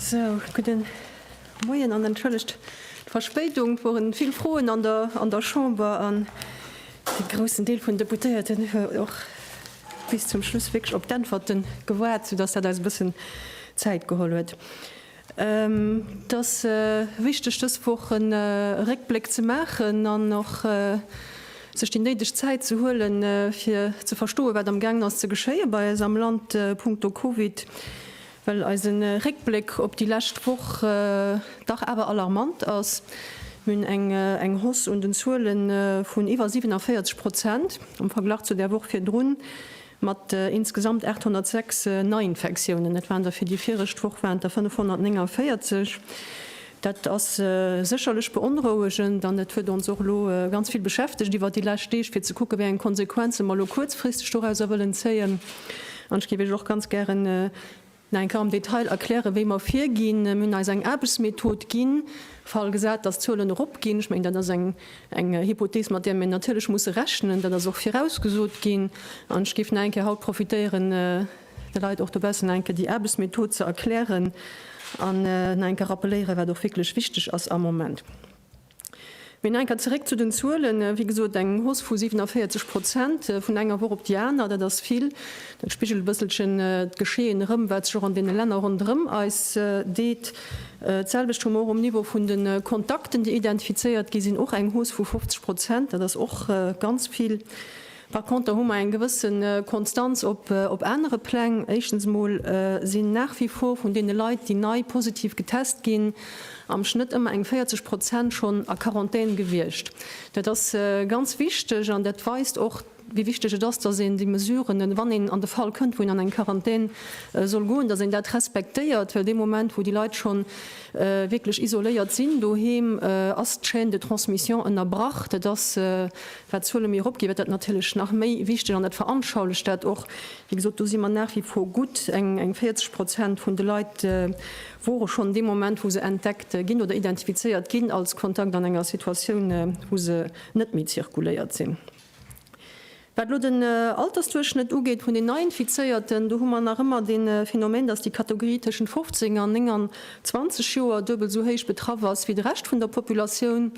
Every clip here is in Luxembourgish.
Sou, gudden Moien an entschëllegt d'Verspéidung. Et woren vill Froen an der an der Chamber an e groussen Deel vun Deputéierten huet och bis zum Schluss wierklech op d'Äntwerten gewaart, sou dass dat eis e bëssen Zäit geholl huet. Et ass wichteg dës Woch e Réckbléck ze maachen an och sech déi néideg Zäit ze huelen fir ze verstoen wat am gaangen ass ze geschéie bei eis am Land punkto Covid. Well eise Réckbléck op déi lescht Woch dach awer alarmant ass. Mir hunn eng Hausse un den Zuele vun iwwer 47 Prozent am Verglach zu der Woch virdrun, mat insgesamt 806 Neiinfektiounen. Dat waren der fir déi viregt Woch waren et der 549. Dat ass sécherlech beonrouegend an et huet ons och elo ganz vill beschäftegt iwwert déi lescht Deeg, fir ze kucken, wéi eng Konsequenze mer elo kuerzfristeg dorauser wëllen zéien. An ech géif Iech och ganz gären nach eng Kéier am Detail erklären, wéi mer virginn. Mir hunn eis eng Aarbechtsmethod ginn, Fall gesat, dass d'Zuelen eropginn. Ech mengen, dat ass eng Hypothees, mat där mir natierlech musse rechnen. Dat ass och virausgesot ginn. An ech géif nach eng Kéier haut profitéieren, Leit och dobaussen nach enke déi Aarbechtsmethod ze erklären an nach enke rappeléieren, wat och wierklech wichteg ass am Moment. Mee nach enker zeréck zu den Zuelen. Wéi gesot, eng Hausse vu 47 Prozent vun enger Woch op déi aner, dat ass vill. Dat spigelt e bësselchen d'Geschehen erëm, wat sech och an deene Länner ronderëm eis deet. D'selwecht hu mer och um Niveau vun de Kontakten, déi identifizéiert gi sinn, och eng Hausse vu 50 Prozent. Dat ass och ganz vill. Par contre hu mer eng gewësse Konstanz op anere Pläng. Éischtens emol sinn nach wie vor vun deene Leit, déi nei positiv getest ginn, am Schnëtt ëmmer eng 40 Prozent schonn a Quarantän gewiescht. Dat ass ganz wichteg an dat weist och, wéi wichteg et ass, dass een déi Mesuren, wann een an de Fall kënnt, wou een an eng Quarantän soll goen, dass een dat respektéiert. Well dee Moment, wou déi Leit schonn wierklech isoléiert sinn doheem, ass d'Chaîne de transmission ënnerbrach. Dat ass Wat d'Zuele méi erop ginn, wat dat natierlech nach méi wichteg an dat veranschaulecht dat och. Wéi gesot, do si mer nach wie vor gutt eng 40 Prozent vun de Leit wore schonn dee Moment, wou se entdeckt ginn oder identifizéiert ginn als Kontakt, an enger Situatioun, wou se net méi zirkuléiert sinn. Wat elo den Altersduerchschnëtt ugeet vun den Neiinfizéierten, do hu mer nach ëmmer dee Phänomen, dass déi Kategorie tëschent 15 an 29 Joer duebel esou héich betraff ass wéi de Rescht vun der Populatioun.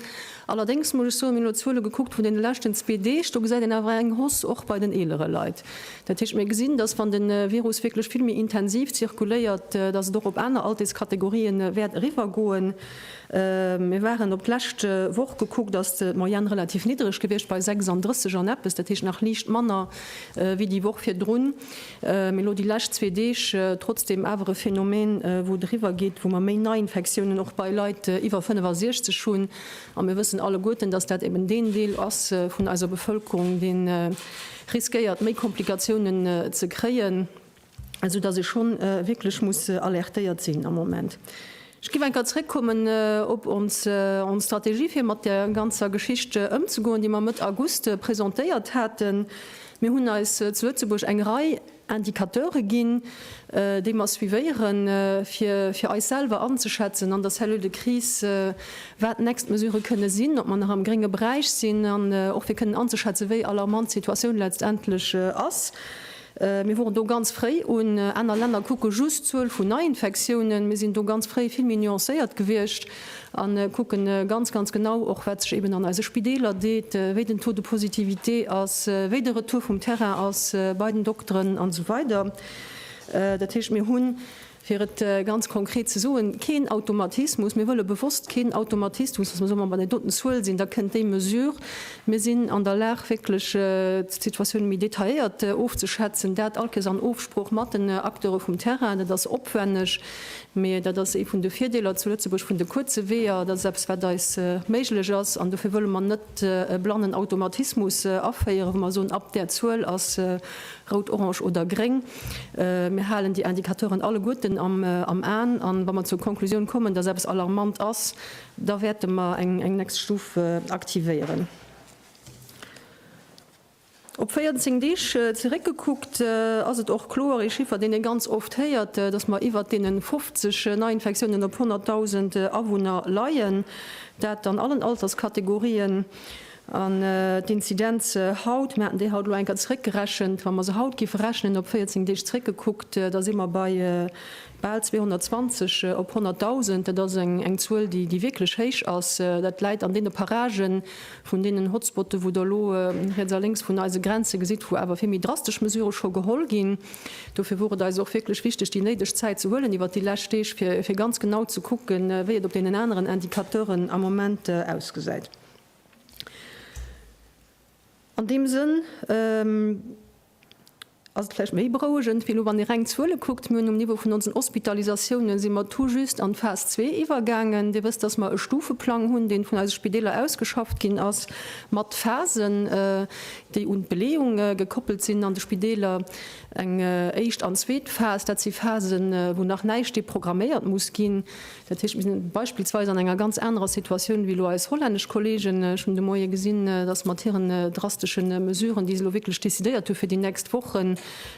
Allerdéngs muss ech soen, mir hunn elo d'Zuele gekuckt vun deene leschten zwee Deeg, do gesäit een awer eng Hausse och bei den eelere Leit. Dat heescht, mir gesinn, datt wann de Virus wierklech vill méi intensiv zirkuléiert, datt et och op aner Alterskategorië wäert eriwwer goen. Mir waren op d'lescht Woch gekuckt, ass d'Moyenne relativ niddreg gewiescht bei 36 an eppes, dat heescht nach liicht manner wéi déi Woch virdrun. Mee lo déi lescht zwee Deeg trotzdeem awer e Phänomen, wou et eriwwer geet, wou mer méi Neiinfektiounen och bei Leit iwwer 65 hunn. A mir wëssen alleguerten, dass dat eben deen Deel ass vun eiser Bevëlkerung, dee riskéiert, méi Komplikatiounen ze kréien, esou dass ee schonn wierklech muss alertéiert sinn am Moment. Ech giff enker zréckkommen op ons Strategie fir mat der ganzer Geschicht ëmzegoen, déi mer Mëtt August presentéiert haten. Mir hunn eis zu Lëtzebuerg eng Rei Indicateure ginn, déi mer suivéieren, fir fir eis selwer anzeschätzen an der Cellule de crise, wat d'nächst Mesurë kënne sinn, ob mer nach am grénge Beräich sinn an och fir kënnen anzeschätzen, wéi alarmant d'Situatioun letztendlech ass. Mir woren do ganz fréi un. Aner Länner kucke just d'Zuel vun Neiinfektiounen. Mir sinn do ganz fréi vill méi nuancéiert gewiescht a kucke ganz, ganz genau och, wat sech eben an eise Spideeler deet, wéi den Taux de positivité ass, wéi de Retour vum Terrain ass bei den Dokteren an esou weider. Dat heescht, mir hunn Fir et ganz konkret ze soen, keen Automatismus, mir wëlle bewosst keen Automatismus, dass mer soen, ma wann et doten Zuel sinn, da kënnt déi Mesure. Mir sinn an der Lag wierklech d'Situatioune méi detailléiert ofzeschätzen, dat allkes an Ofsprooch mat den Acteure vum Terrain. Dat ass opwänneg, mee dat ass ee vun de Virdeeler zu Lëtzebuerg vun de kuerze Weeër, dat ass eppes wat eis méiglech ass an dofir wëlle mer net e blannen Automatismus aféieren, wou mer soen, ab där Zuel ass rout, orange oder gréng. Mir halen déi Indicateuren alleguerten am Aen an wa mer zur Konklusioun kommen, dass eppes alarmant ass, da wäerte mer eng nächst Stuf aktivéieren. Op 14 Deeg zeréckgekuckt ass et och kloer ee Chiffer, deen ee ganz oft héiert, dass mer iwwert deene 50 Neiinfektiounen op 100.000 Awunner leien, dat an allen Alterskategorien. An d'Inzidenze haut, mir haten déi haut elo eng Kéier zeréckgerechent, wa mer se haut géife rechnen, op 14 Deeg zeréckgekuckt, da si mer bei bal 220 op 100.000. Dat ass eng Zuel, déi wierklech héich ass. Dat läit an deene Parage vun deenen Hotspotte wou Der elo riets a lénks vun eise Grenze gesitt, wou awer vill méi drastesch Mesurë scho geholl ginn. Dofir wor et eis och wierklech wichteg, déi néideg Zäit ze huelen iwwert déi lescht Deeg, fir ganz genau ze kucken, wéi et op deenen aneren Indicateuren am Moment ausgesäit. An deem Sënn ass et vläicht méi berouegend wéi elo, wann ee reng Zuele kuckt. Mir hunn um Niveau vun onsen Hospitalisatiounen, si mer tout juste an d'Phas zwee iwwergaangen. Dir wësst, datt mer e Stufeplang hunn, dee vun eise Spideeler ausgeschafft ginn ass, mat Phasen, déi un d'Beleeung gekoppelt sinn an de Spideeler, eng éischt an zweet Phas. Dat si Phasen, wou nach näischt deprogramméiert muss ginn. Dat heescht, mir sinn beispillsweis an enger ganz anerer Situatioun wéi elo eis hollännesch Kolleegen. Ech hunn de Moie gesinn, dass mat hiren drastesche Mesuren, déi se elo wierklech decidéiert hunn fir déi nächst Wochen,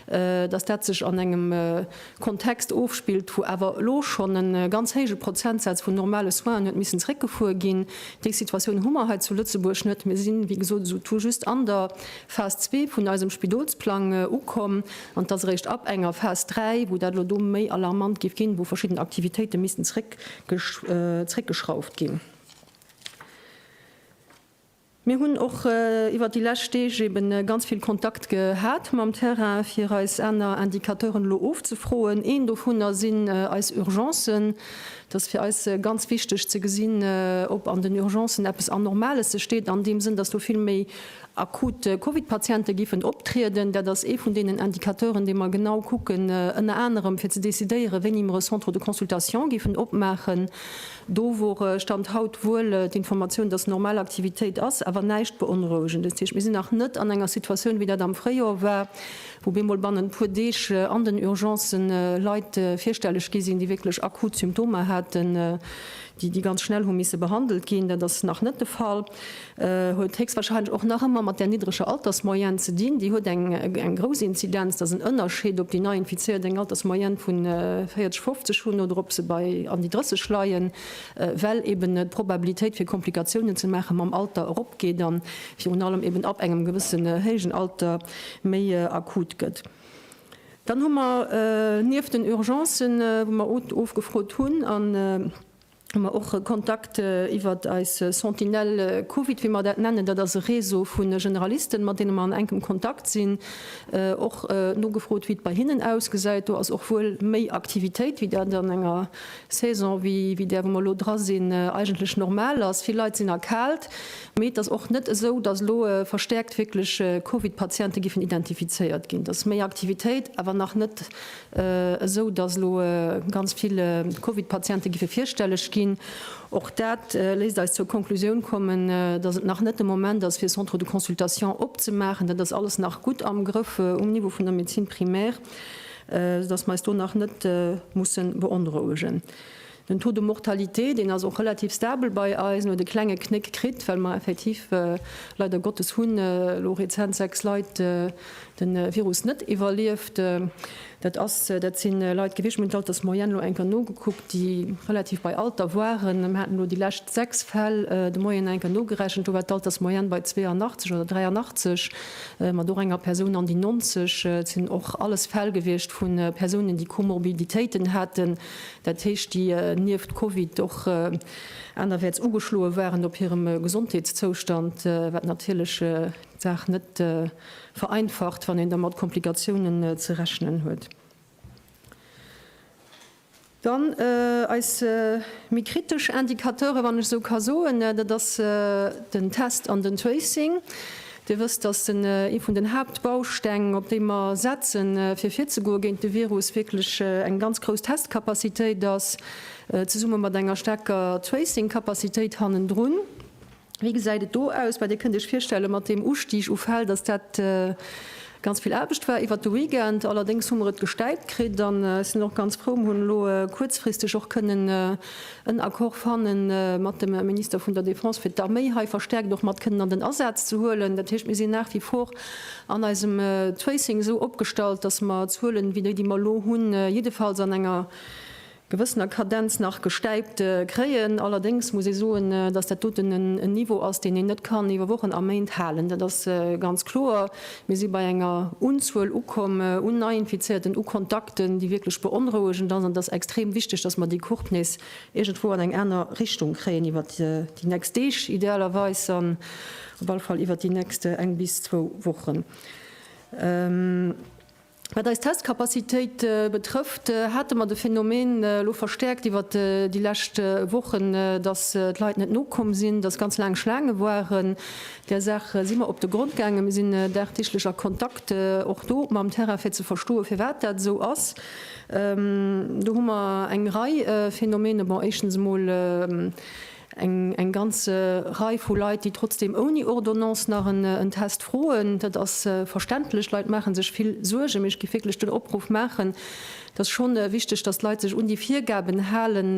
dass dat sech an engem Kontext ofspillt, wou awer elo schonn e ganz héije Prozentsaz vun normale Soinen huet missen zréckgefuer ginn. Déi Situatioun hu mer hei zu Lëtzebuerg net. Mir sinn, wéi gesot, esou tout just an der Phas zwee vun eisem Spidolsplang ukomm. An et ass eréischt ab enger Phas 3, wou dat elo do méi alarmant géif ginn, wou verschidden Aktivitéite missten zréckgeschrauft ginn. Mir hunn och iwwert déi lescht Deeg eeben ganz vill Kontakt gehat mam Terrain, fir eis aner Indicateuren elo ofzefroen. Een dovunner sinn eis Urgencen. Et ass fir eis ganz wichteg ze gesinn, ob an den Urgencen eppes Anormales sech deet, an deem Sënn, datt do vill méi Akut Covid-Patiente géifen optrieden. Dat ass ee vun deenen Indicateuren, dee mer genau kucken, ënner anerem fir ze decidéieren, wéini mer e Centre de consultation géifen opmaachen. Do wor Stand haut wuel d'Informatioun, dass normal Aktivitéit ass, awer näischt Beonrouegendes. Dat heescht, mir sinn nach net an enger Situatioun, wéi dat am Fréijor war, wou bemol bannent puer Deeg an den Urgencë Leit virstelleg gi sinn, déi wierklech akut Symptomer haten, déi ganz schnell hu misse behandelt ginn. Dat ass nach net de Fall. huet héchstwahrscheinlech och nach ëmmer mat där niddreger Altersmoyenne ze dinn. Déi huet eng grouss Inzidenz. Et ass en Ënnerscheed, ob déi Neiinfizéiert eng Altersmoyenne vu 40, 50 hunn oder ob se bei an déi 30 leien, well eben d'Probabilitéit fir Komplikatiounen ze maache mam Alter eropgeet a virun allem eben ab engem gewësse héijen Alter méi akut gëtt. Dann hu mer nieft den Urgencen, wou mer ofgefrot hunn, an. hu mer och Kontakt iwwer eis Sentinelle Covid, wéi mer dat nennen. Dat ass e Réseau vu Generalisten, mat deene mer an enkem Kontakt sinn. Och nogefrot, wéi et bei hinnen ausgesäit. Do ass och wuel méi Aktivitéit, wéi dat an enger Saison wéi där, wou mer elo dra sinn, eigentlech normal ass. Vill Leit sinn erkaalt, mee et ass och net esou, dass elo verstäerkt wierklech Covid-Patiente géifen identifizéiert ginn. Dass méi Aktivitéit, awer nach net esou datt elo ganz vill Covid-Patiente giffe virstelleg ginn. Och dat léisst eis zur Konklusioun kommen, datt et nach net de Moment ass, fir Centres de consultation opzemaachen. Dat ass alles nach gutt am Grëff um Niveau vun der Médecine primaire, esou datt mer eis do nach net musse beonrouegen. Den Taux de mortalité, deen ass och relativ stabel bei eis. En huet e klenge Knéck kritt, well mer effektiv, leider Gottes, hunn elo rezent sechs Leit de Virus net iwwerlieft. Dat ass, dat si Leit gewiescht, mir hunn d'Altersmoyenne elo eng Kéier nogekuckt, déi relativ bei Alter waren. Mir haten elo déi lescht sechs Fäll de Moien eng Kéier nogerechent, do war d'Altersmoyenne bei 82 oder 83, mat och enger Persoun an déi 90. Et sinn och alles Fäll gewiescht vu Persounen, déi Komorbiditéiten haten, Dat heescht, déi nieft Covid och anerwäerts ugeschloe waren op hirem Gesondheetszoustand, wat natierlech d'Saach net vereinfacht, wann een da mat Komplikatiounen ze rechnen huet. Dann eis méi kritesch Indicateuren, wann ech esou ka soen, dat ass den Test an den Tracing. Dir wësst, dass en ee vun den Haaptbausteng, op dee mer setzen, fir virzegoe géint de Virus, wierklech eng ganz grouss Testcapacitéit ass, zesumme mat enger staarker Tracing-Capacitéit hannendrun. Wéi gesäit et do aus? Mä Dir kënnt Iech virstellen, mat deem Ustig u Fäll, dass dat Ganz vill Aarbecht war iwwert de Weekend, allerdéngs hu mer et gestäipt kritt an sinn och ganz frou, mer hunn elo kuerzfristeg och kënnen en Accord fanne mat dem Minister vun der Defense, fir d'Arméi hei verstärkt och mat kënnen an den Asaz ze huelen. Dat heescht, mir sinn nach wie vor an eisem Tracing esou opgestallt, dass mer d'Zuelen, wéi déi, déi mer elo hunn, jiddefalls an enger gewëssener Kadenz nach gestäipt kréien. Allerdéngs muss ee soen, datt dat doten en Niveau ass, deen een net kann iwwer Wochen a Méint halen. Dat ass ganz kloer. Mir si bei enger Unzuel ukomm un Neiinfizierten, u Kontakten, déi wierklech beonrouegend ass. An et ass extrem wichteg, datt mer déi Courbe nees iergendwou an eng aner Richtung kréien iwwert déi nächst Deeg idealerweis an op alle Fall iwwert déi nächst eng bis zwou Wochen. Wat eis Testcapacitéit betrëfft, hate mer de Phänomen elo verstäerkt iwwert déi lescht Wochen, dass d'Leit net nokomm sinn, dass ganz laang Schlaange waren. Där Saach si mer op de Grond gaangen. Mir sinn dagdeeglech a Kontakt och do mam Terrain, fir ze verstoen, firwat dat esou ass. Do hu mer eng Rei Phänomene. Bon, éischtens emol. Eng ganz Rei vu Leit, déi trotzdeem ouni Ordonnance nach en Test froen. Dat ass verständlech. D'Leit maache sech vill Suergen. Mee ech géif wierklech den Opruff maachen, Et ass scho wichteg, datt d'Leit sech un déi Virgaben halen,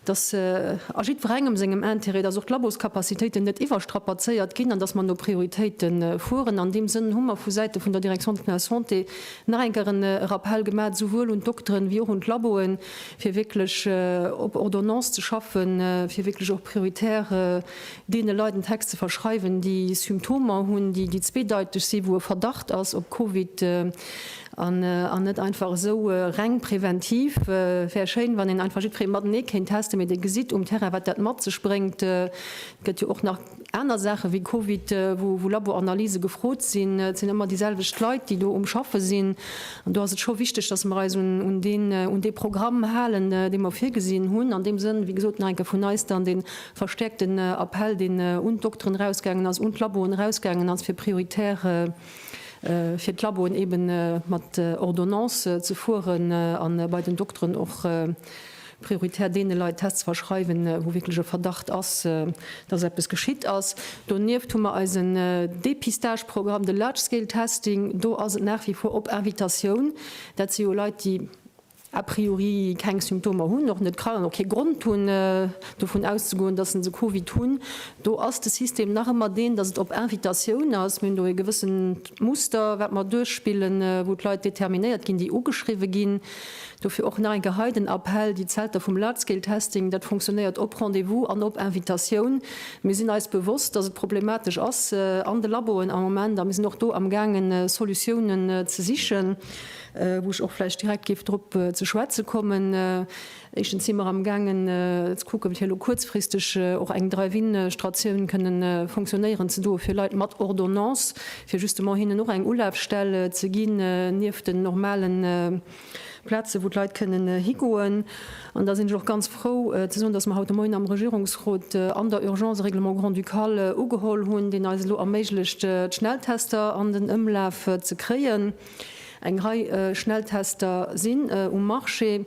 datt a jiddwerengem sengem Intérêt, datt och d'Laboscapacitéiten net iwwerstrapazéiert ginn an datt mer no Prioritéite fueren. An deem Sënn hu mer vu Säite vun der Direction de la Santé nach eng Kéier e Rappell gemaach, souwuel un d'Dokteren wéi och un d'Laboen, fir wierklech op Ordonnance ze schaffen, fir wierklech och prioritär deene Leit en Text ze verschreiwen, déi Symptomer hunn, déi zweedeiteg sinn, wou e Verdacht ass op Covid, an net einfach esou reng preventiv. Et wär schéin, wann een einfach jiddweree matenee kéint testen, mee Dir gesitt um Terrain, wat dat mat sech bréngt. Et gëtt jo och nach. Aner Saache wéi Covid, wou Laboranalysë gefrot sinn, et sinn ëmmer déi selwecht Leit, déi do um Schaffe sinn. An do ass et scho wichteg, dass mer eis un dee Programm halen, dee mer virgesinn hunn. An deem Sënn, wéi gesot, nach eng Kéier vun eis dann dee verstäerkten Appell, deen un d'Dokteren erausgaangen ass, un d'Laboen erausgaangen ass, fir prioritär fir d'Laboen eeben mat Ordonnance ze fueren a bei den Dokteren och, prioritär deene Leit Tests ze verschreiwen, wou wierklech e Verdacht ass, dass eppes geschitt ass. Donieft hu mer eisen Dépistageprogramm, de Large Scale Testing. Do ass et nach wie vor op Invitatioun. Dat si jo Leit, déi a priori keng Symptomer hunn, och net krank an och kee Grond hunn, dovun auszegoen, dass se Covid hunn. Do ass de System nach ëmmer deen, dass et op Invitatioun ass. Mir hunn do e gewëssent Muster, wat mer duerchspillen, wou d'Leit determinéiert ginn, déi ugeschriwwen ginn. Dofir och nach eng Kéier hei den Appell, déi Zelter vum Large-Scale-Testing, dat funktionéiert op Rendez-vous an op Invitatioun. Mir sinn eis bewosst, datt et problematesch ass an de Laboen am Moment a mir sinn och do amgaangen Solutiounen ze sichen, wou ech och vläicht direkt géif drop ze schwätze kommen. Éischtens si mer amgaangen ze kucken, fir elo kuerzfristeg och eng Drive-in-Stratioun kënnen funktionéieren ze doe fir Leit mat Ordonnance, fir justement hinnen och eng Ulafstell ze ginn, nieft den normale Plazen, wou d'Leit kënnen higoen. An da sinn ech och ganz frou ze soen, dass mer haut de Moien am Regierungsrot an der Urgence e Règlement grand-ducal ugeholl hunn, deen eis elo erméiglecht, d'Schnelltester an den Ëmlaf ze kréien. Eng Rei Schnelltester sinn um Marché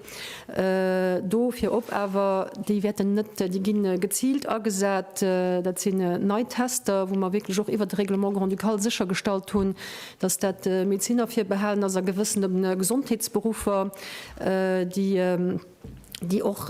do, virop awer, déi wäerten net, déi gi geziilt agesat. Dat sinn nei Tester, wou mer wierklech och iwwert de Règlement grand-ducal séchergestallt hunn, dass dat Medeziner virbehalen ass a gewëssene Gesondheetsberuffer, déi, déi och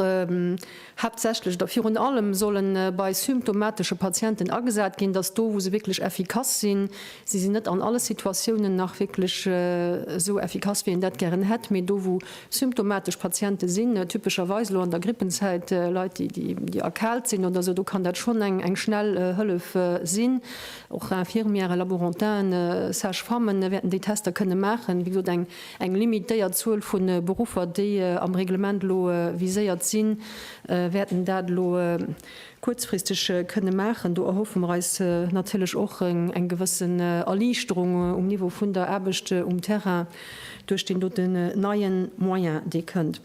haaptsächlech oder virun allem solle bei symptomatesche Patienten agesat ginn, dass do, wou se wierklech effikass sinn, si se net an alle Situatiounen nach wierklech esou effikass, wéi een dat gären hätt, mee do, wou symptomatesch Patiente sinn, typescherweis elo an der Grippenzäit Leit, déi erkaalt sinn oder esou, do kann dat schonn eng schnell Hëllef sinn. Och Infirmièren, Laborantainen, Sage-Femmen wäerten déi Tester kënne maachen. Wéi gesot, eng Eng limitéiert Zuel vu Beruffer, déi am Reglement elo viséiert sinn, wäerten dat elo kuerzfristeg kënne maachen. Do erhoffe mer eis natierlech och eng gewëssen Erliichterung um Niveau vun der Aarbecht um Terrain duerch deen doten neie Moyen, dee kënnt.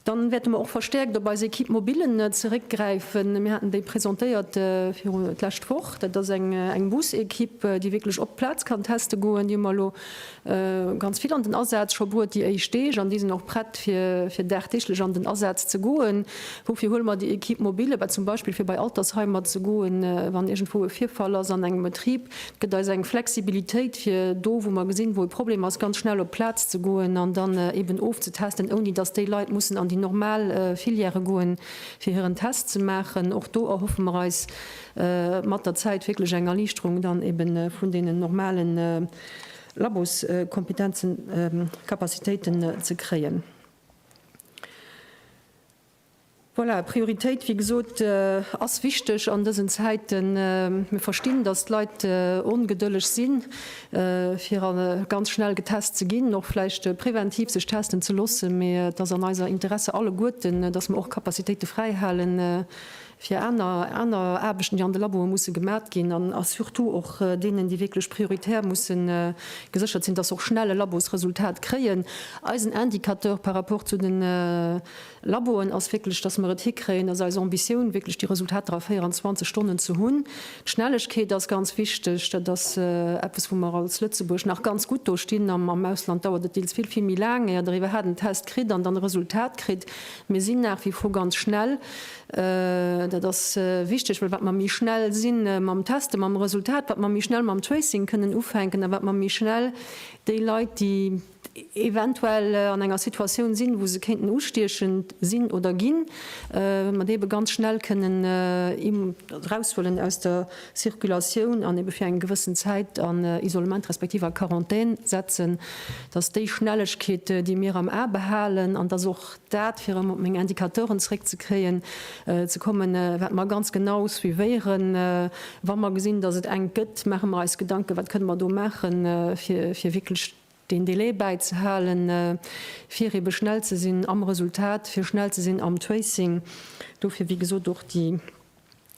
Dann wäerte mer och verstäerkt op eis Equipe mobile zeréckgräifen. Mir haten déi presentéiert viru d'lescht Woch. Dat ass eng Bus-Equipe, déi wierklech op d'Plaz kann teste goen. Déi hu mer elo ganz vill an den Asaz scho bruet déi éischt Deeg an déi sinn och prett fir dagdeeglech an den Asaz ze goen. Woufir huele mer déi Equipe mobile? Bah zum Beispill fir bei Altersheimer ze goen, wann iergendwou e Virfall ass an engem Betrib. Et gëtt eis eng Flexibilitéit, fir do, wou mer gesinn, wou e Problem ass, ganz schnell op d'Plaz ze goen an dann eeben ofzetesten, ouni dass déi Leit mussen an déi normal Filièrë goen, fir hiren Test ze maachen. Och do erhoffe mer eis mat der Zäit wierklech eng Erliichterung dann eeben vun deenen normale Laboskompetenzen, Capacitéiten ze kréien. Voilà, Prioritéit, wéi gesot, ass wichteg an dësen Zäiten. Mir verstinn, datt d'Leit ongedëlleg si fir ganz schnell getest ze ginn, och vläicht preventiv sech testen ze loossen. Mee et ass an eiser Interesse alleguerten, datt mer och Capacitéite fräihale fir aner Aarbechten, déi an de Laboe musse gemat ginn, a surtout och deenen, déi wierklech prioritär mussen geséchert sinn, datt se och schnell e Labosresultat kréien. Eisen Indicateur par rapport zu den. Laboen ass wierklech, dass mer et hikréien, dass eis Ambitioun wierklech déi Resultater a 24 Stonnen ze hunn. D'Schnellegkeet ass ganz wichteg. Dat ass eppes, wou mer als Lëtzebuerg nach ganz gutt do stinn. Am Ausland dauert et deels vill, vill méi laang, éier Der iwwerhaapt en Test kritt an dann e Resultat kritt. Mir sinn nach wie vor ganz schnell. Dat ass wichteg, well wat mer méi schnell si mam Testen, mam Resultat, wat mer méi schnell mam Tracing kënnen ufänken a wat mer méi schnell déi Leit, déi, eventuell an enger Situatioun sinn, wou se kéinten ustiechend sinn oder ginn, mat eebe ganz schnell kënnen eraushuelen aus der Circulatioun an eebe fir eng gewëssen Zäit an Isolement respektiv a Quarantän setzen, dass déi Schnellegkeet, déi mir am A behalen, an dass och dat, fir erëm op meng Indicateuren zréckzekréien, ze kommen, wat mer ganz genau suivéieren, wa mer gesinn, dass et enk gëtt, maache mer eis Gedanken, wat kënne mer do maachen, fir wierklech. deen Delai bäizehalen, fir ebe schnell ze sinn am Resultat, fir schnell ze sinn am Tracing. Dofir, wéi gesot, och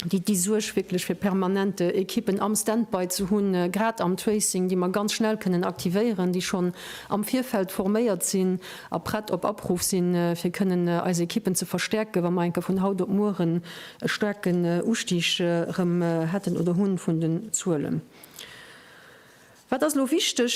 déi Suerg wierklech fir permanent Ekippen am Stand-by ze hunn, grad am Tracing, déi mer ganz schnell kënnen aktivéieren, déi schonn am Virfeld forméiert sinn a prett op Apruff sinn, fir kënnen eis Ekippen ze verstäerken, wa mer enke vun haut op mueren e staarken Ustig erëm hätten oder hunn vun den Zuelen. Wat ass elo wichteg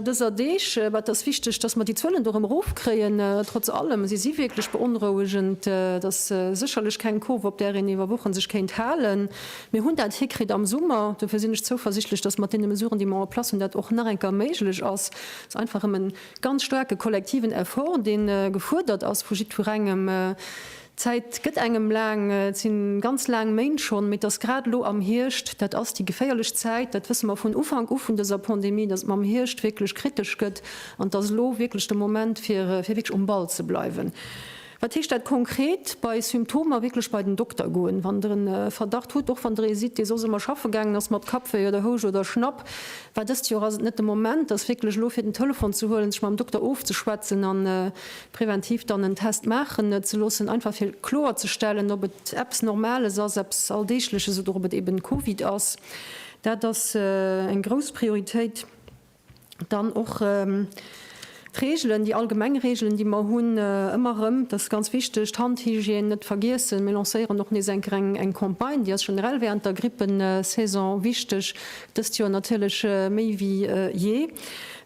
dëser Deeg? Wat ass wichteg, dass mer déi Zuelen do erëm erofkréien? Trotz allem, si si wierklech beonrouegend. Et ass sécherlech keng Kurve, op där een iwwer Wochen sech kéint halen. Mir hunn dat hikritt am Summer. Dofir sinn ech zouversichtlech, dass mat deene Mesuren, déi mer en place hunn, dat och nach eng Kéier méiglech ass. Et ass einfach erëm e ganz staarke kollektiven Effort, dee gefuerdert ass vu jiddwerengem. D'Zäit gëtt engem laang, et si ganz laang Méint schonn, mee et ass grad elo am Hierscht, dat ass déi geféierlech Zäit, dat wësse mer vun Ufank u vun dëser Pandemie, datt et mam Hierscht wierklech kritesch gëtt an et ass elo wierklech de Moment fir wierklech um Ball ze bleiwen. Wat heescht dat konkret? Bei Symptomer wierklech bei den Dokter goen, wann der e Verdacht hutt, och wann der ee sidd, dee soss ëmmer schaffe gaangen ass mat Kappwéi oder Houscht oder Schnapp, war dëst Joer ass et net de Moment, ass wierklech elo fir den Telefon ze huelen, sech mam Dokter ofzeschwätzen an Präventiv dann en Test maachen ze loossen, einfach fir kloer ze stellen, ob et eppes Normales ass, eppes Alldeegleches oder ob et eben Covid ass. Dat ass eng grouss Prioritéit. Dann och d'Reegelen, déi allgemeng Reegelen, déi mer hunn, ëmmer erëm, dat ass ganz wichteg, d'Handhygiène net vergiessen. Mir lancéieren och nees eng Kéier eng Campagne, déi ass generell wärend der Grippesaison wichteg, dëst Joer natierlech méi wéi jee.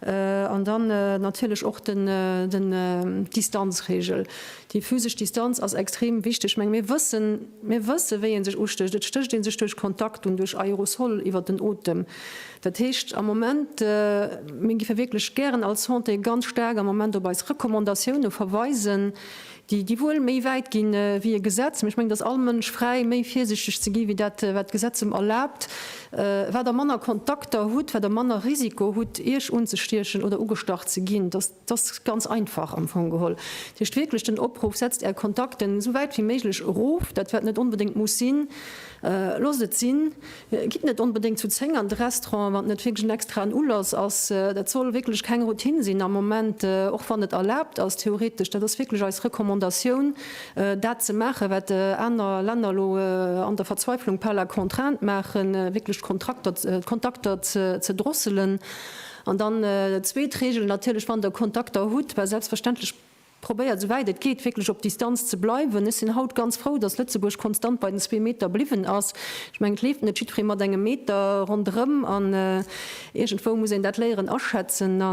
An dann natierlech och d'Distanzregel. Déi physesch Distanz ass extrem wichteg. Meng mir wëssen, mir wësse wéi ee sech ustécht. Et stécht ee sech duerch Kontakt un, duerch Aerosol iwwert den Otem. Dat heescht am Moment, mir géife wierklech gären als Santé ganz staark am Moment op eis Recommandatioune verweisen, déi wuel méi wäit ginn ewéi e Gesetz, mä ech mengen, dass all Mënsch fräi méi virsichteg ze gi wéi dat, wat d'Gesetz em erlaabt, wat Der manner Kontakter hutt, wat Der manner Risiko hutt, Iech unzestiechen oder ugestach ze ginn. Dass, dass ganz einfach am Fong geholl. Dat heescht wierklech den Opruff, setzt Är Kontakten esou wäit wéi méiglech erof, dat wat net onbedéngt muss sinn, Loosst et sinn, gitt net onbedéngt zu 10 an de Restaurant, wann et net wierklech en extraen Ulass ass. Dat soll wierklech keng Routine sinn am Moment, och wann et erlaabt ass theoretesch. Dat ass wierklech eis Recommandatioun, dat ze maachen, wat aner Länner elo an der Verzweiflung par la contrainte maachen, wierklech d'Kontrakter, d'Kontakter ze drosselen. An dann zweet Regel natierlech, wann Der Kontakter hutt, well selbstverständlech, Probéiert esou wäit et geet wierklech op Distanz ze bleiwen. Ech sinn haut ganz frou, datt Lëtzebuerg konstant bei den zwee Meter bliwwen ass. Ech mengen, et leeft net jiddweree mat engem Meter ronderëm an iergendwou muss een dat léieren aschätzen a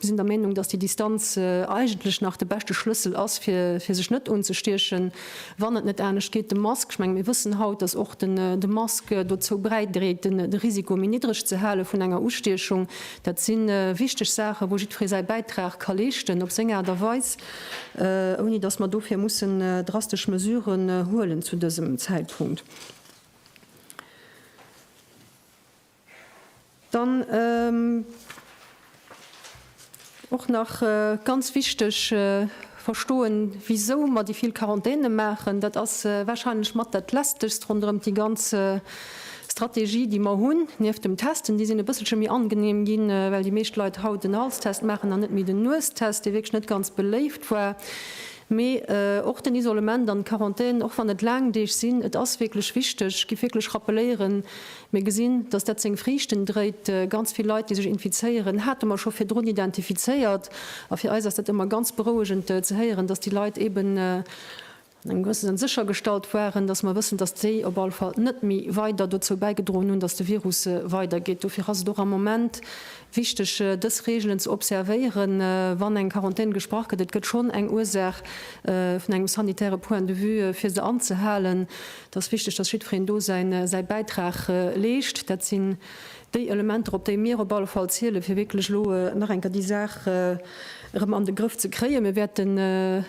sinn der Meenung, datt déi Distanz eigentlech nach de beschte Schlëssel ass, fir sech net unzestiechen, wann et net anescht geet. De Mask, ech mengen, mir wëssen haut, datt och de Mask dozou bäidréit, de Risiko méi niddreg ze hale vun enger Ustiechung. Dat si wichteg Saachen, wou jiddweree säi Bäitrag ka leeschten op seng Aart a Weis, ouni datt mer dofir mussen drastesch Mesuren huelen zu dësem Zäitpunkt. Dann och nach ganz wichteg. verstoen wisou mer déi vill Quarantänen maachen. Dat ass warscheinlech mat dat lästegst ronderëm déi ganz Strategie déi mer hunn, nieft dem Testen. Déi sinn e bësselche méi angeneem ginn, well déi meescht Leit haut den Halstest maachen an net méi den Nuestest, dee wierklech net ganz beléift war. Mee och den Isolement an d'Quarantän, och wann et laang Deeg sinn, et ass wierklech wichteg, gi wierklech rappeléieren, Mir gesinn, dass dat seng Friichten dréit. Ganz vill Leit, déi sech infizéieren, hate mer scho virdrun identifizéiert. A fir eis ass dat ëmmer ganz berouegend ze héieren, dass déi Leit eeben an engem gewësse Sënn séchergestallt waren, dass mer wëssen, dass déi op all Fall net méi weider dozou bäigedroen hunn, dass de Virus weidergeet. Dofir ass et och am Moment wichteg, dës Reegelen ze observéieren, wann eng Quarantän gesprach gëtt. Et gëtt schonn eng Ursaach vun engem sanitäre Point de vue, fir se anzehalen. Et ass wichteg, dass jiddwereen do säi Bäitrag leescht. Dat sinn déi Elementer, op déi mir op alle Fall zielen, fir wierklech elo nach eng Kéier déi Saach erëm an de Grëff ze kréien. Mir wäerten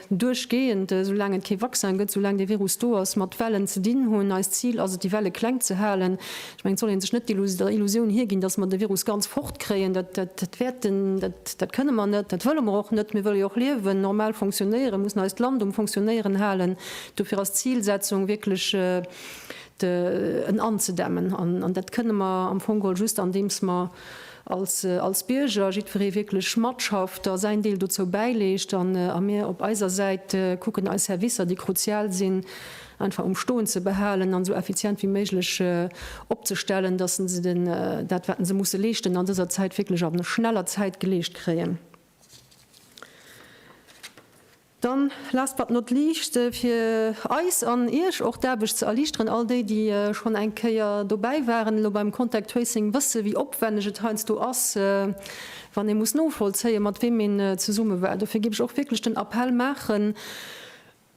duerchgehend, esou laang et kee Vaccin gëtt, esou laang dee Virus do ass, mat Wellen ze dinn hunn. Eist Zil ass et, déi Welle kleng ze halen. Ech mengen, et soll ee sech net der Illusioun higinn, dass mer de Virus ganz fort kréien. Dat wäerten, dat kënne mer net, dat wëlle mer och net. Mir wëlle jo och liewen, normal funktionéieren, mussen eist Land um Funktionéieren halen. Dofir ass d'Zilsetzung wierklech, en anzedämmen. An dat kënne mer am Fong geholl just, andeems mer als Bierger, jiddweree wierklech matschafft a säin Deel dozou bäileescht an a mir op eiser Säit kucken, eis Servicer, déi kruzial sinn, einfach um Stoen ze behalen an esou effizient wéi méiglech opzestellen, dass se dat, wat se musse leeschten, an dëser Zäit wierklech a schneller Zäit geleescht kréien. Dann, last but not least, fir eis an Iech och d'Aarbecht ze erliichteren, all déi, déi schonn eng Kéier dobäi waren elo beim Contact Tracing, wësse wéi opwänneg et heiansdo ass, wann ee muss novollzéien, mat weem een zesumme war. Dofir géif ech och wierklech den Appell maachen,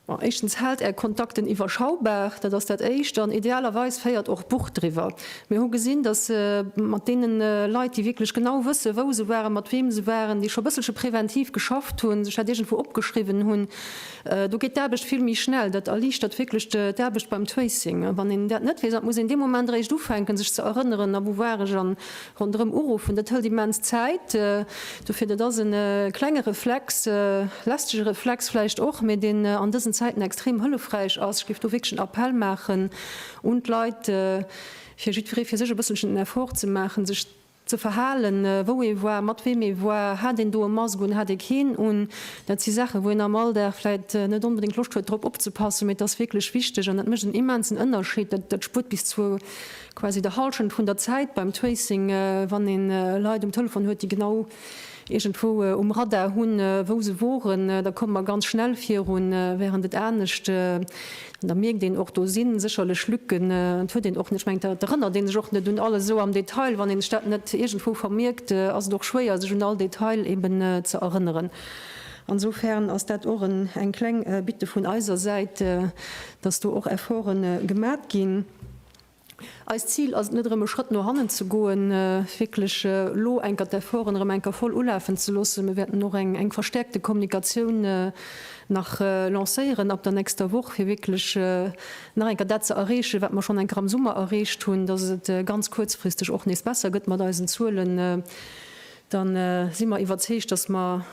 bon, éischtens, haalt Är Kontakten iwwerschaubar, dat ass dat Éischt, an idealerweis féiert och Buch driwwer. Mir hu gesinn, datt mat deene Leit, déi wierklech genau wëssen, wou se waren, mat weem se waren, déi scho bësselche preventiv geschafft hunn, sech dat iergendwou opgeschriwwen hunn, do geet d'Aarbecht vill méi schnell. Dat erliichtert wierklech d'Aarbecht beim Tracing. A wann een dat net weess, an et muss een dee Moment eréischt ufänken, sech ze erënneren, a wou war ech, a ronderëm uruffen, dat hëlt immens Zäit. Dofir, dat ass e klenge Reflex, lästege Reflex vläicht och, mee deen an dësen Zäiten extrem hëllefräich ass. Ech géif do wierklech en Appell maachen. Un d'Leit, fir jiddweree fir sech e bësselchen den Effort ze maachen, sech ze verhalen, wou ee war, mat weem ee war, hat een do e Mask un, hat ee keen un, dat si Saachen, wou een am Alldag vläit net onbedéngt Loscht huet drop opzepassen, mee et ass wierklech wichteg an dat mécht en immensen Ënnerscheed. Dat spuert bis zu quasi der Hallschent vun der Zäit beim Tracing, wann ee Leit um Telefon huet, déi genau iergendwou um Radar hunn, wou se woren, da komme mer ganz schnell virun, während et anescht, an da mierkt een och, do si sécherlech Lücken, et huet een och, ech mengen, et erënnert ee sech och net un alles esou am Detail, wann een sech dat net iergendwou vermierkt, ass et och schwéier, sech un all Detail eben ze erënneren. Insofern ass dat och eng kleng Bitte vun eiser Säit, dass do och Efforte gemat ginn. Eist Zil ass et net erëm e Schrëtt no hannen ze goen, wierklech elo enker d'Efforten erëm enker voll ulafen ze loossen. Mir wäerten och eng eng verstärkte Kommunikatioun nach lancéieren ab der nächster Woch fir wierklech nach enker dat ze erreechen wat mer schonn enker am Summer erreecht hunn, dass et ganz kuerzfristeg och nees besser gëtt mat eisen Zuelen. Da si mer iwwerzeegt, dass mer.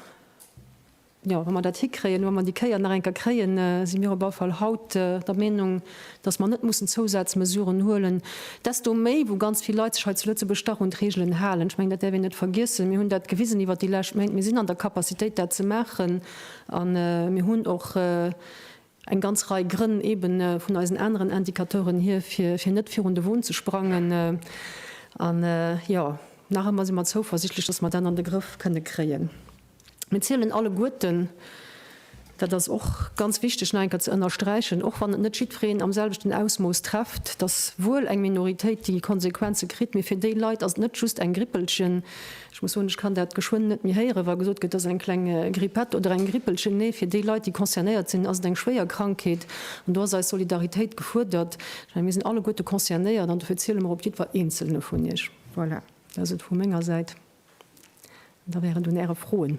Jo, wa mer dat hikréien, wa mer déi Kéier nach eng Kéier kréien, si mir op alle Fall haut der Meenung, dass mer net mussen Zousazmesuren huelen, desto méi wou ganz vill Leit sech hei zu Lëtzebuerg dach un d'Reegelen halen. Ech mengen, dat däerf een net vergiessen. Mir hunn dat gewisen iwwert déi lescht Méint, mir sinn an der Capacitéit, dat ze maachen a mir hunn och, eng ganz Rei Grënn eeben vun eisen aneren Indicateuren hier, fir, fir net virun de Won ze sprangen. An, jo, nach ëmmer si mer zouversichtlech, dass mer dat an de Grëff kënne kréien. Mir zielen alleguerten, dat ass och ganz wichteg nach eng Kéier ze ënnersträichen, och wann et net jiddwereen am selwechten Ausmooss trefft, dass wuel eng Minoritéit déi Konsequenze kritt, mee fir déi Leit ass et net just eng Grippelchen, Ech muss soen, ech kann dat geschwënn net méi héieren, wa gesot gëtt, et ass eng kleng Grippette oder eng Grippelchen. Nee, fir déi Leit, déi concernéiert sinn, ass et eng schwéier Krankheet. An do ass eis Solidaritéit gefuerdert. Ech mengen, mir sinn alleguerte concernéiert an dofir ziele mer op jiddwer Eenzelne vun Iech. Voilà, dat ass et vu menger Säit. An da wär et un Äre Froen.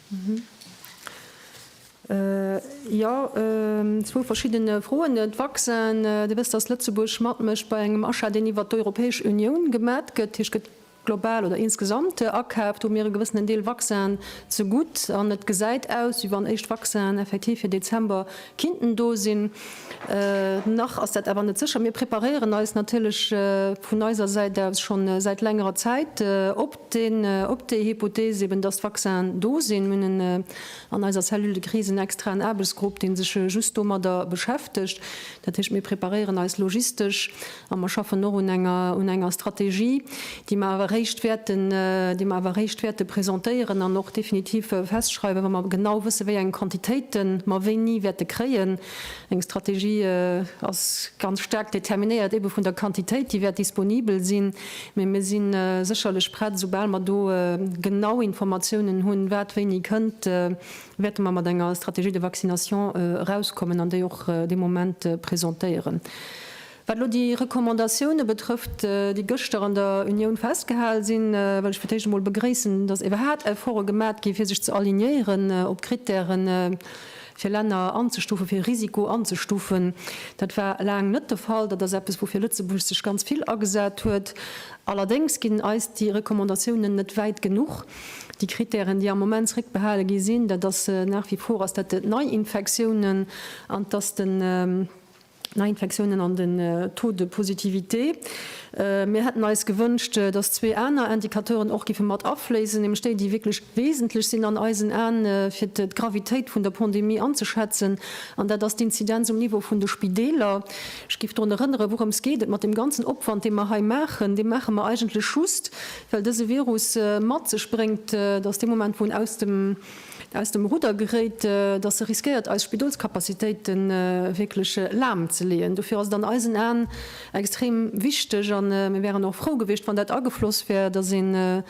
Jo, zwou verschidden Froen. De Vaccin, Dir wësst, datt Lëtzebuerg matmécht bei engem Achat, deen iwwert d'Europäesch Unioun gemat gëtt, dat heescht gëtt global oder insgesamt akaaft. Do hu mir e gewëssenen Deel Vaccin zegutt an et gesäit aus, wéi wann éischt Vaccinen effektiv fir Dezember kinnten do sinn. Nach ass dat awer net sécher. Mir preparéieren eis natierlech vun eiser Säit aus schonn säit längerer Zäit op. deen op déi Hypothees eben, dass d'Vaccinen do sinn, mir hunn an eiser Cellule de crise en extraen Aarbechtsgrupp, dee sech just domadder beschäftegt, dat heescht, mir preparéieren eis logistesch a mer schaffen och un enger Strategie, déi mer awer eréischt wäerten, déi mer awer eréischt wäerte presentéieren an och definitiv festschreiwen, wa mer genau wëssen, wéi eng Quantitéiten mer wéini wäerte kréien. Eng Strategie ass ganz staark determinéiert ebe vun der Quantitéit, déi wäert disponibel sinn. Mee mir si sécherlech prett, esoubal mer do genau Informatiounen hunn, wat wéini kënnt, wäerte mer mat enger Stratégie de vaccination erauskommen an déi och dee Moment presentéieren. Wat elo déi Recommandatioune betrëfft, déi gëschter an der Unioun festgehal sinn, wëll ech fir d'éischt emol begréissen, datt iwwerhaat Efforte gemat gi fir sech ze alignéieren op d'Krittären, fir Länner anzestufen, fir Risiko anzestufen. Dat war laang net de Fall. Dat ass eppes, woufir Lëtzebuerg sech ganz vill agesat huet. Allerdéngs ginn eis déi Recommandatiounen net wäit genuch. Déi Krittären, déi am Moment zréckbehale gi sinn, dat ass nach wie vor, ass dat d'Neiinfektiounen an dass de. Neiinfektiounen an den Taux de positivité. Mir hätten eis gewënscht, dass zwee aner Indicateuren och giffe mat afléissen, nämlech déi, déi wierklech wesentlech sinn an eisen Aen, fir d'Gravitéit vun der Pandemie anzeschätzen, an dat ass d'Inzidenz um Niveau vun de Spideeler. Ech géif drun erënnere wourëms geet et mat deem ganzen Opwand, dee mer hei maachen. Dee maache mer eigentlech just, well dëse Virus mat sech bréngt, dass dee Moment, wou en aus dem. aus dem Rudder geréit, datt se riskéiert eis Spidolskapazitéite wierklech lahm ze leeën. Dofir ass et an eisen Aen extrem wichteg, a mir wären och frou gewiescht, wann dat agefloss wär, datt een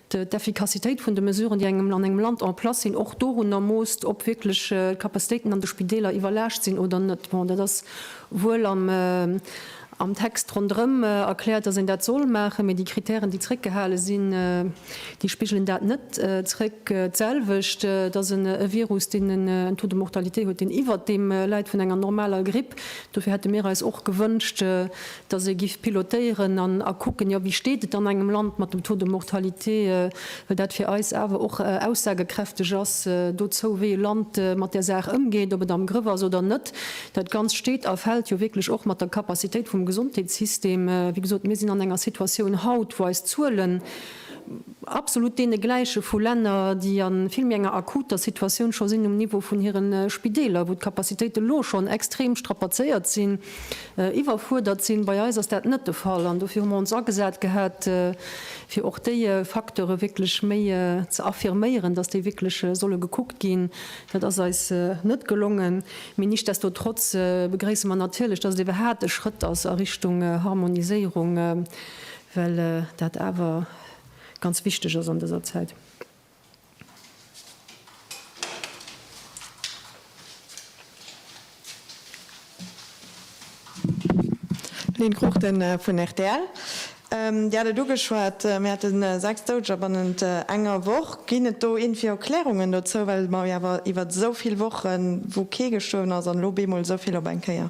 d'Effikassitéit vun de Mesuren, déi an engem Land en place sinn, och dorunner moosst, ob wierklech d'Kapazitéiten an de Spideeler iwwerlaascht sinn oder net. Bon, dat ass wuel am. Am Text ronderëm erkläert, datt een dat soll maachen, mee déi Krittären, déi zréckgehale sinn, déi spigelen dat net zréck. D'selwecht, datt en e Virus, deen en Taux de mortalité huet, deen iwwert deem läit vun enger normaler Gripp. Dofir hätte mir eis och gewënscht, datt ee giff pilotéieren an a kucken, jo, wéi steet et an engem Land mat dem Taux de mortalité, well dat fir eis awer och aussagekräfteg ass dozou, wéi e Land mat där Saach ëmgeet, ob et am Grëff ass oder net. Dat Ganzt steet a fält jo wierklech och mat der Capacitéit vum Gesondheetssystem. Wéi gesot, mir sinn an enger Situatioun haut, wou eis Zuelen absolut deene gläiche vu Länner, déi a vill méi enger akuter Situatioun scho sinn um Niveau vun hire Spideeler, wou d'Capacitéite lo schonn extrem strapazéiert sinn, iwwerfuerdert sinn. Bei eis ass dat net de Fall an dofir hu mer ons agesat gehat, fir och déi Facteure wierklech méi ze affirméieren, dass déi wierklech solle gekuckt ginn, Dat ass eis net gelongen, mee nichtsdestotrotz begréisse mer natierlech, dass et ebe hat e Schrëtt ass a Richtung Harmoniséierung, well dat awer ganz wichteg ass an dëser Zäit. Lynn Cruchten vun rtl, Dir hat et ugeschwat, mir hate 6 Doudeger bannent enger Woch. Ginn et do iergendwéi Erklärungen dozou, well mer jo awer iwwert esou vill Wochen, wou kee gestuerwen ass, an elo bemol esou vill op eng Kéier?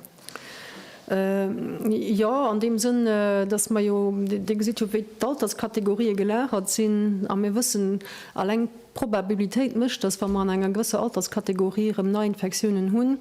Jo, an deem Sënn, datt mer jo, Dir gesitt jo wéi d'Alterskategorië gelagert sinn, a mir wëssen, eleng D'Probabilitéit mécht, dass wa mer an enger gewësser Alterskategorie erëm Neiinfektiounen hunn,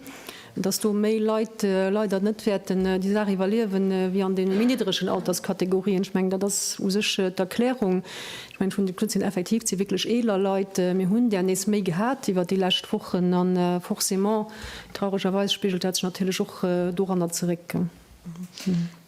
dass do méi Leit leider net wäerten déi Saach iwwerliewen, wéi an deene méi niddregen Alterskategorien. Ech mengen, dat ass u sech d'Erklärung. Ech mengen, vun de Taux sinn effektiv déi wierklech eeler Leit. Mir hunn där nees méi gehat iwwert déi lescht Wochen a forcément, trauregerweis, spigelt dat sech natierlech och doranner zeréck.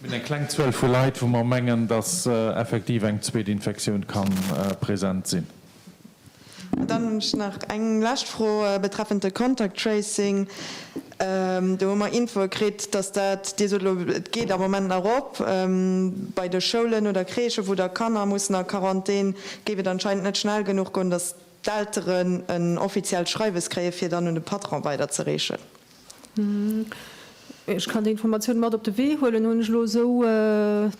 Mir hunn eng kleng Zuel vu Leit, wou mer mengen, dass effektiv eng zweet Infektioun ka present sinn. Dann hunn ech nach eng lescht Fro betreffend de Contact Tracing. Do hu mer Infoe kritt, dass dat, Dir sot elo, et geet am Moment nach op bei de Schoulen oder Crèchen, wou da Kanner mussen a Quarantän, géif et anscheinend net schnell genuch goen, dass d'Elteren en offiziellt Schreiwes kréien, fir dann un de Patron weiderzereechen. Ech kann déi Informatiounen mat op de Wee huelen, hunn ech elo esou.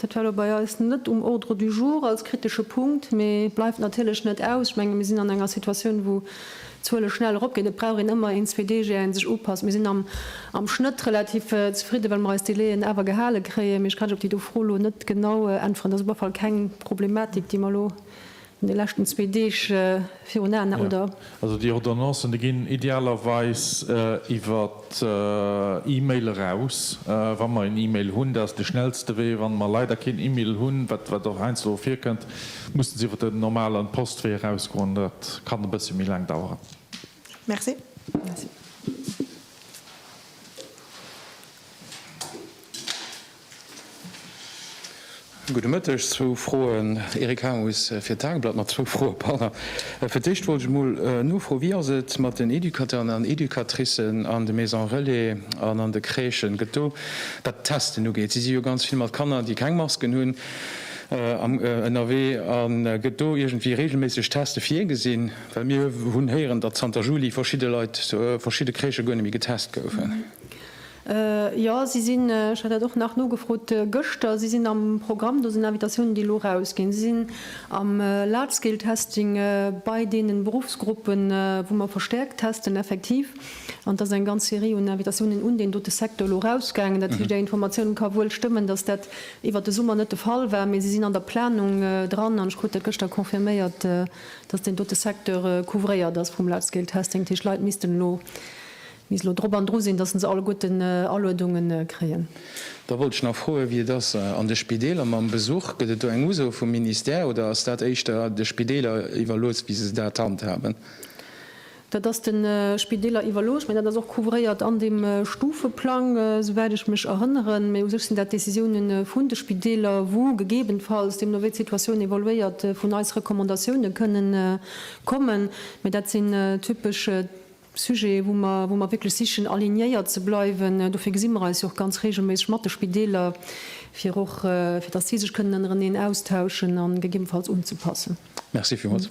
Dat war elo bei eis net um Ordre du jour als kritesche Punkt, mee bleift natierlech net aus. Ech menge mir sinn an enger Situatioun, wou d'Zuele schnell eropginn. Et brauch een ëmmer een, zwee Deeg ier ee sech upasst. Mir sinn am Schnëtt relativ zefridden, well mer eis Délaiën awer gehale kréien. Mee ech kann lech op déi do Fro elo net genau äntweren. Dat ass op alle Fall keng Problematik, déi mer elo An de leschten zwee Deeg virun Aen, oder? Also déi Ordonnancen, déi ginn idealerweis iwwer E-Mail eraus, wa mer een E-Mail hunn. Dat ass de schnellste Wee. Wa mer leider keen E-Mail hunn, wat och heiansdo virkënnt, mussen se iwwer den normalen Postwee erausgoen. Dat kann e bësse méi laang daueren. Merci. Gudde Mëtteg. Zwou Froen, Eric Harmus fir d'Tageblatt mat zwou Froe par. Fir d'éischt wollt ech emol nofroen, wéi ass et mat den Educateuren an Educatricen an de Maisons relais an an de Crèchen? Gëtt do, wat d'Testen ugeet, si si jo ganz vill mat Kanner, déi keng Masken hunn, ënnerwee, a gëtt do iergendwéi reegelméisseg Teste virgesinn? Well mir hunn héieren, datt zanter Juli verschidde Leit, verschidde Crèchë guer net méi getest goufen. Jo, si sinn, ech hat dat och nach nogefrot gëschter, si sinn am Programm. Do sinn Invitatiounen, déi elo erausginn. Si sinn am Large-Scale-Testing bei deenen Beruffsgruppen, wou mer verstäerkt testen, effektiv. An et ass eng ganz Serie un Invitatiounen un deen dote Secteur elo erausgaangen. Dat heescht, Är Informatioun ka wuel stëmmen, dass dat iwwert de Summer net de Fall war, mee se sinn an der Planung dran. An ech krut dat gëschter confirméiert, dass deen dote Secteur couvréiert ass vum Large-Scale-Testing. Dat heescht, Leit missten elo Misst elo drop an dru sinn, datt se alleguerten Aluedunge kréien. Da wollt ech nach froen, wéi et ass an de Spideeler mam Besuch. Gëtt et do eng Uso vum Ministère oder ass dat éischter de Spideeler iwwerlooss, wéi se dat handhaben? Dat ass de Spideeler iwwerlooss, mä dat ass och couvréiert an deem Stufeplang, souwäit ech mech erënneren. Mä u sech sinn dat Décisioune vun de Spideeler, wou gegebenfalls, deemno wéi d'Situatioun evoluéiert, vun eis Recommandatioune kënnen kommen. Mä dat sinn typesch. Sujet, wou mer, wou mer wierklech sichen alignéiert ze bleiwen. Dofir gesi mer eis jo och ganz reegelméisseg mat de Spideeler, fir och, fir dass si sech kënnen ënnereneen austauschen a gegebenfalls unzepassen. Merci villmools.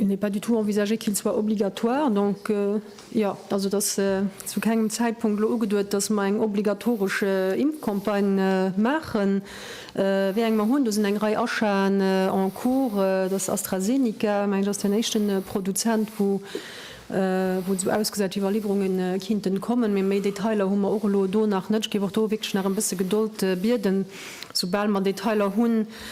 Il n'est pas du tout envisagé qu'il soit obligatoire. Donc, jo, also et ass zu kengem Zäitpunkt elo ugeduet, dass mer eng obligatoresch Impfcampagne maachen. Wéi eng mer hunn, do sinn eng Rei Achaten en cours. Et ass AstraZeneca, mengen ech, ass den éischte Produzent, wou et esou ausgesäit, wéi Iwwerliwwerunge kinnten kommen. Mee méi Detailer hu mer och elo do nach net. Ech géif och do wierklech nach e bësse Gedold bieden. Soubal mer Detailer hunn,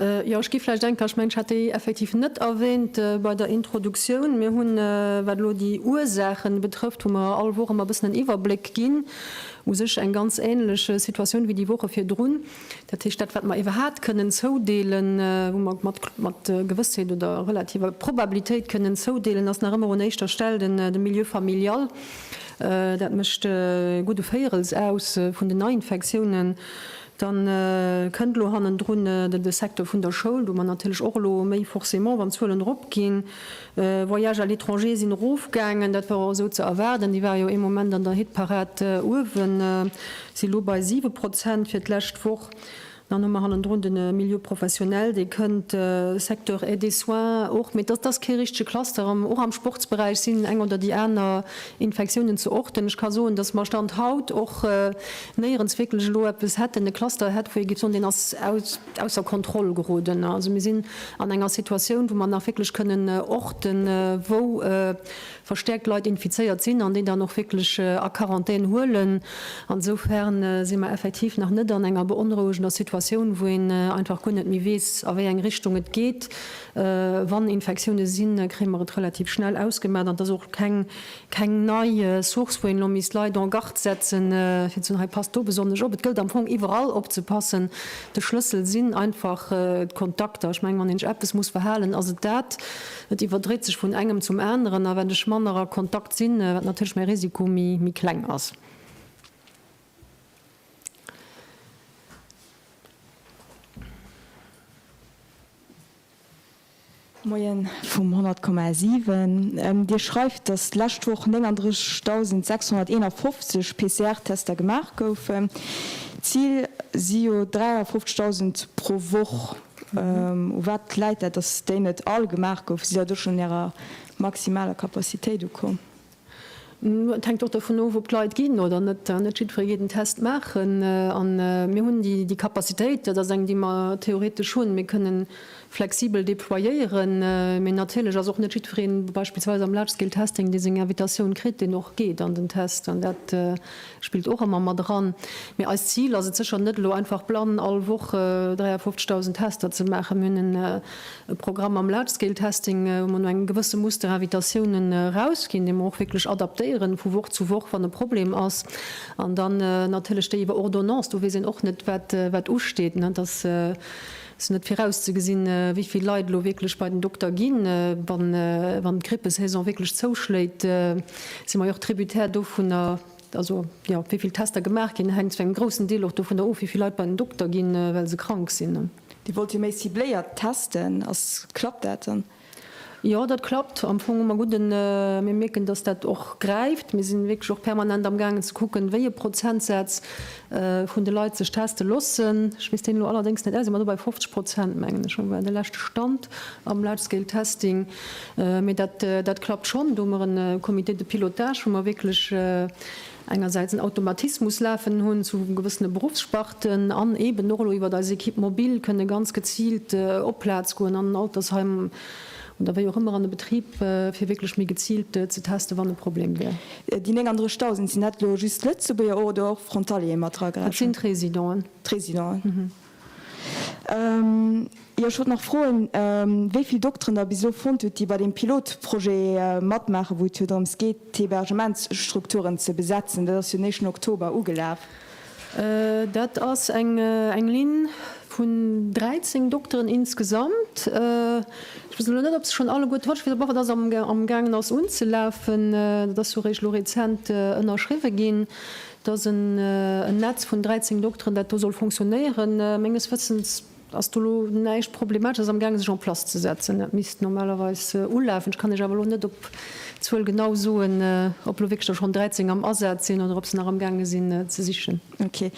Jo, ech gi vläicht denken, ech mengen, ech hat déi effektiv net erwähnt bei der Introduktioun. Mir hunn, wat elo déi Ursaache betrëfft, wou mer all Woch ëmmer e bëssen en Iwwerbléck ginn, u sech eng ganz änlech Situatioun wéi déi Woche virdrun. Dat heescht, dat, wat mer iwwerhaapt kënnen zoudeelen, wou mer mat Gewëssheet oder relativer Probabilitéit kënnen zoudeelen, ass nach ëmmer un éischter Stell de Milieu familial. Dat mécht e gudde Véierels aus vun den Neiinfektiounen. Dann kënnt elo hannendrun de Secteur vun der Schoul, wou mer natierlech och elo méi forcément, wann d'Zuelen eropginn, Voyages à l'étranger sinn erofgaangen, dat war och esou ze erwaarden, déi ware jo ee Moment an der Hitparad uewen, si elo bei siwe Prozent fir d'lescht Woch. Dann hu mer hannendrun de Milieu professionnel, dee kënnt, Secteur Aide et soins och, mee dat ass kee richtege Cluster. Och am Sportsberäich sinn eng oder déi aner Infektiounen ze orten. Ech ka soen, datt mer, Stand haut, och néierens wierklech elo eppes hätten, e Cluster hätt, wou ee géif soen, deen ass ausser Kontroll geroden. Also mir sinn an enger Situatioun, wou mer nach wierklech kënnen orten, wou verstäerkt Leit infizéiert sinn an déi dann och wierklech a Quarantän huelen. Insofern si mer effektiv nach net an enger beonrouegender Situatioun, wou een einfach guer net méi weess, a wéi eng Richtung et geet. Wann Infektiounen sinn, kréie mer et relativ schnell ausgemat an et ass och keng Keng nei Source, wou een elo misst Leit en garde setzen, fir ze soen, hei passt do besonnesch op. Et gëllt am Fong iwwerall opzepassen. De Schlëssel sinn einfach d'Kontakter. Ech mengen, wann een sech eppes muss verhalen, ass et dat. Et iwwerdréit sech vun engem zum aneren. A wenn ech manner a Kontakt sinn, wat natierlech mäi Risiko méi kleng ass. Moien vum 100,7. Dir schreift, datt d'lescht Woch 39.651 PCR-Tester gemaach goufen. D'Zil si jo 53.000 pro Woch. U wat läit dat, datt déi net all gemaach goufen? Sidd Der do schonn un Ärer maximaler Capacitéit ukomm? Et hänkt och dovun of, ob d'Leit ginn oder net. Net jiddweree geet en Test maachen. A mir hunn déi Capacitéit, dat ass eng, déi mer theoretesch hunn, mir kënnen flexibel déployéieren. Mee natierlech ass och net jiddweree beispillsweis am Large-Scale-Testing, dee seng Invitatioun kritt, deen och geet an den Test. An dat spillt och ëmmer mat eran. Mee eist Zil ass et sécher net, elo einfach blann all Woch 53.000 Tester ze maachen. Mir hunn e E Programm mam Large-Scale-Testing, wou mer no engem gewësse Muster Invitatiounen erausginn, dee mer och wierklech adaptéieren vu Woch zu Woch, wann e Problem ass. An dann natierlech déi iwwer Ordonnance, do weess een och net, wat usteet. Et ass net virauszegesinn, wéivill Leit elo wierklech bei den Dokter ginn. Wann d'Grippesaison wierklech zouschléit, si mer jo och tributaire dovunner, Also, jo, wéi vill Tester gemaach ginn, hänkt zu engem groussen Deel och dovun of, wéi vill Leit bei den Dokter ginn, well se krank sinn. Dir wollt jo méi cibléiert testen. Ass, klappt dat dann? Jo, dat klappt am Fong ëmmer gutt. Mir mierken, dass dat och gräift. Mir si wierklech och permanent amgaangen ze kucken, wéi e Prozentsaz vun de Leit sech teste loossen. Ech weess deen elo allerdéngs net auswendig, ma do bei 50 Prozent, mengen ech, war de leschte Stand am Large Scale Testing. Mee dat, dat klappt schonn. Do hu mer e Comité de pilotage, wou mer wierklech engersäits en Automatismus lafen hunn zu gewëssene Beruffssparten an eeben och elo iwwert eis Equipe mobile kënne ganz geziilt op Plaz goen an Altersheim, Oder wéi och ëmmer an e Betrib, fir wierklech méi geziilt ze testen, wann e Problem wär. Déi 39.000, sinn dat elo just Lëtzebuerger oder och Frontaliere mat dra gerechent? Dat sinn d'Résidenten. D'Résidenten. Jo, ech wollt nach froen, wéi vill Dokteren Der bis elo fonnt hutt, déi bei deem Pilotprojet matmaachen, wou et jo drëms geet, d'Hebergementsstrukturen ze besetzen. Dat ass jo den éischten Oktober ugelaf. Dat ass eng Linn vun 13 Dokteren insgesamt. Ech weess elo net, ob se schonn alleguer d'Watch, ech weess awer och, dass se amgaangen ass unzelafen. Dat ass jo eréischt elo rezent ënnerschriwwen ginn, dass en Netz vun 13 Dokteren, dat do soll funktionéieren. Menges Wëssens Et ass do lo näischt Problematesches am gaange sech en place ze setzen. Dat misst normalerweis ulafen. Ech kann Iech awer lo net op d'Zuel genau soen, ob elo wierklech der schonn 13 am Asaz sinn oder ob se nach am gaange sinn ze sichen. Ok.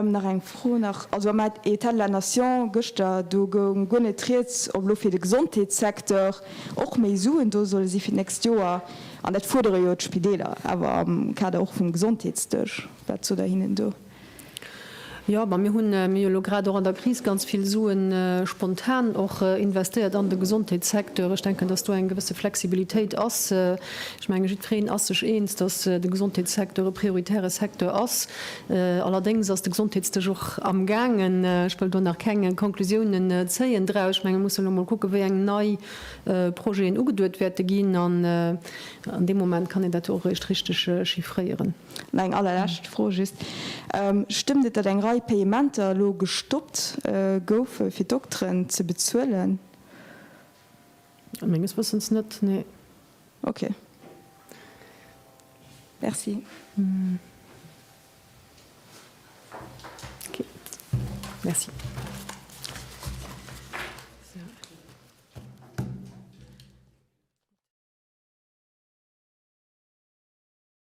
Nach eng Fro nach, also am État de la nation gëschter, do goung guer net rieds, ob elo fir de Gesondheetssecteur och méi Suen do solle si fir d'nächst Joer. An dat fuerdere jo d'Spideeler awer am Kader och vum Gesondheetsdësch. Wat sot Der hinnen do? Jo, ma mir hunn, mir hu jo elo grad och an der Kris ganz vill Suen spontan och investéiert an de Gesondheetssecteur. Ech denken, datt do eng gewësse Flexibilitéit ass. Ech menge jiddwereen ass sech eens, datt de Gesondheetssecteur e prioritäre Secteur ass. Allerdéngs ass de Gesondheetsdësch och amgaangen, ech wëll do nach keng Conclusiounen zéien draus, ech menge mir musse elo mol kucken, wéi eng nei Projeten ugeduet wäerte ginn an an deem Moment kann een dat jo och eréischt richteg chiffréieren. An eng allerlescht Fro just, Stëmmt et, datt eng Rei Payementer elo gestoppt goufe fir Dokteren ze bezuelen? Menges Wëssens net, nee. Ok. Merci. Ok. Merci.